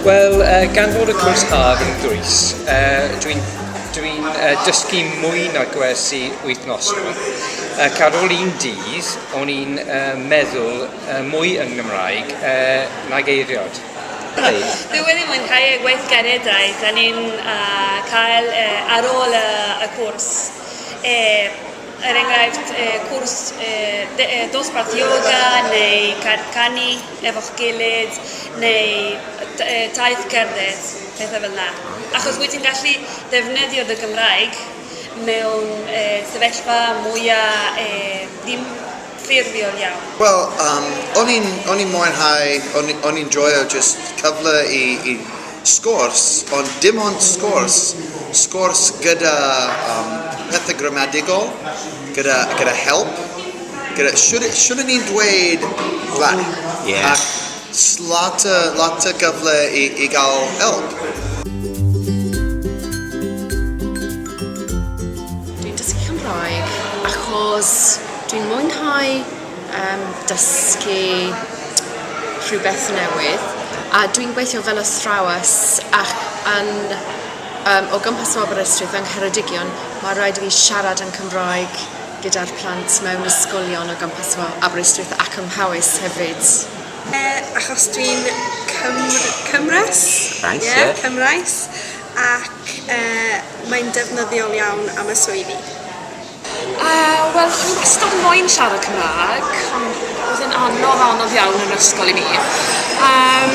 Wel, uh, gan fod y cwrs haf yn dwys, uh, dwi'n dwi uh, dysgu mwy na gwersi wythnosol. Ac ar ôl un dydd, o'n i'n uh, meddwl uh, mwy yn Gymraeg uh, nag eiriod. Dwi wedi mwynhau y gweithgareddau da ni'n uh, cael uh, ar ôl uh, y cwrs. Uh, er enghraifft cwrs dosbarth ioga neu cerdd canu efo'ch gilydd neu taith cerdded, pethau fel 'na. Achos wyt ti'n gallu defnyddio dy Gymraeg mewn sefyllfa mwya' ddim... ffurfiol iawn? Wel yym o'n i'n o'n i'n mwynhau o'n i o'n i'n joio jyst cyfle i i sgwrs ond dim ond sgwrs, sgwrs gyda yym pethe gramadigol gyda gyda help gyda shwd yy shwd o'n i'n dweud rhai... Ie. ...a s- lot o lot o gyfle i i ga'l help. Dwi'n dysgu Cymraeg achos Dwi'n mwynhau yym dysgu rhywbeth newydd a dwi'n gweithio fel athrawes ac yn yym o gwmpas o Aberystwyth yng Ngheredigion ma' raid i fi siarad yn Cymraeg gyda'r plant mewn ysgolion o gwmpas fo Aberystwyth ac ym Mhowys hefyd. Ie achos dwi'n Cymr- Cymres. Reit ie. Ie Cymraes ac yy mae'n defnyddiol iawn am y swyddi. Yy wel o'n i wastad moyn siarad Cymra'g ond o'dd e'n anodd anodd iawn yn yr ysgol i mi. Yym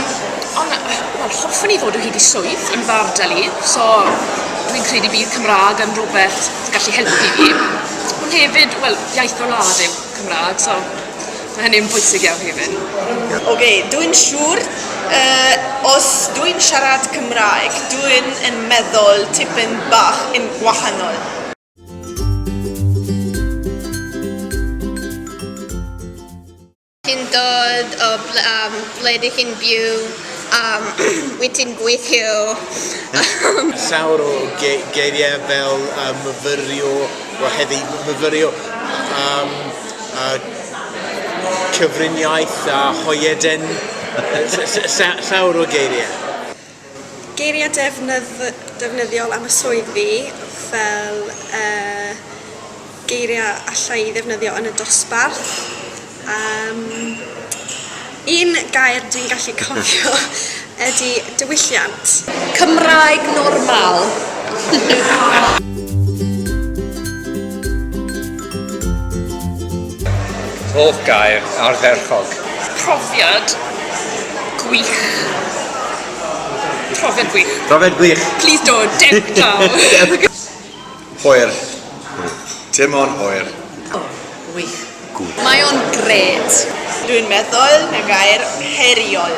on' yy wel hoffwn i ddod o hyd i swydd yn fy ardal i so dwi'n credu bydd Cymra'g yn rwbeth sy gallu helpu fi. Ond hefyd wel iaith fy wlad yw Cymra'g so ma' hynny yn bwysig iawn hefyd. Oce dwi'n siŵr yy os dwi'n siarad Cymraeg dwi'n yn meddwl tipyn bach yn gwahanol. Ti'n dod o ble, um, ble dych chi'n byw? Um, wyt ti'n gweithio? Um, Llawer o ge geiriau fel uh, myfyrio, o heddi myfyrio, um, a cyfriniaeth a hoieden, llawer o geiriau. Geiriau defnyddiol am y swydd fi fel geiriau alla i ddefnyddio yn y dosbarth. Yym un gair dwi'n gallu cofio ydi diwylliant. Cymraeg normal. Hoff gair ardderchog? Profiad gwych. Profiad gwych. Profiad gwych. Plis do, dewch draw. Hwyr. Dim ond hwyr. O, wych. Good. Mae o'n grêt. Dwi'n meddwl na gair heriol.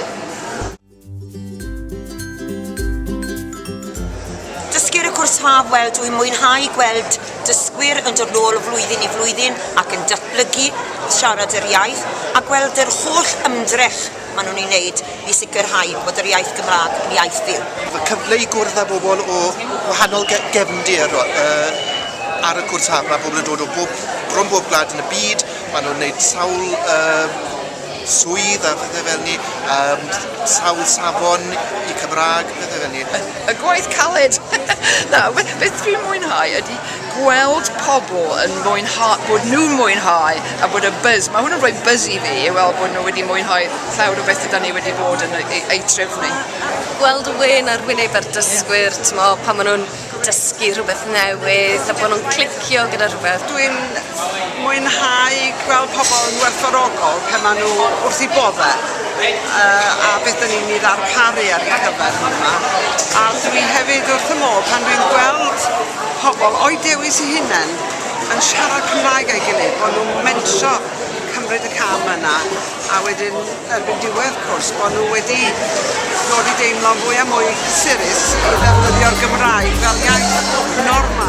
Dysgwyr y cwrs haf, wel dwi'n mwynhau gweld dysgwyr yn dod nôl o flwyddyn i flwyddyn ac yn datblygu, siarad yr iaith a gweld yr holl ymdrech maen nhw'n ei wneud i sicrhau bod yr iaith Gymraeg yn iaith fyw. Mae cyfle i gwrdd â bobl o wahanol gefndir ar y cwrs haf, mae pobl yn dod o bob... bron bob gwlad yn y byd, maen nhw'n wneud sawl swydd a phethe fel 'ny yym s- sawl safon i Cymra'g pethe fel 'ny. Y gwaith caled! Na, be be dwi'n mwynhau ydi gweld pobl yn mwynha- bod nhw'n mwynhau a bod y buzz, ma' hwn yn rhoi buzz i fi i weld bod nhw wedi mwynhau llawer o bethe 'dan ni wedi bod yn eu eu trefnu. Gweld y wên ar wyneb yr dysgwyr t'mo' pan ma' nw'n dysgu rhywbeth newydd a bod nhw'n clicio gyda rhywbeth. Dwi'n mwynhau gweld pobl yn werthfawrogol pan maen nhw wrth eu boddau uh, a beth dyn ni'n ei ddarparu ar eu cyfer nhw yma. A dwi hefyd wrth y modd pan dwi'n gweld pobl o'i dewis i hunain yn siarad Cymraeg a'i gilydd, bod nhw'n mentro cymryd y cam yna. a wedyn erbyn diwedd cwrs bod nhw wedi dod i deimlo'n fwy a mwy cysurus i ddefnyddio'r Gymraeg fel iaith normal.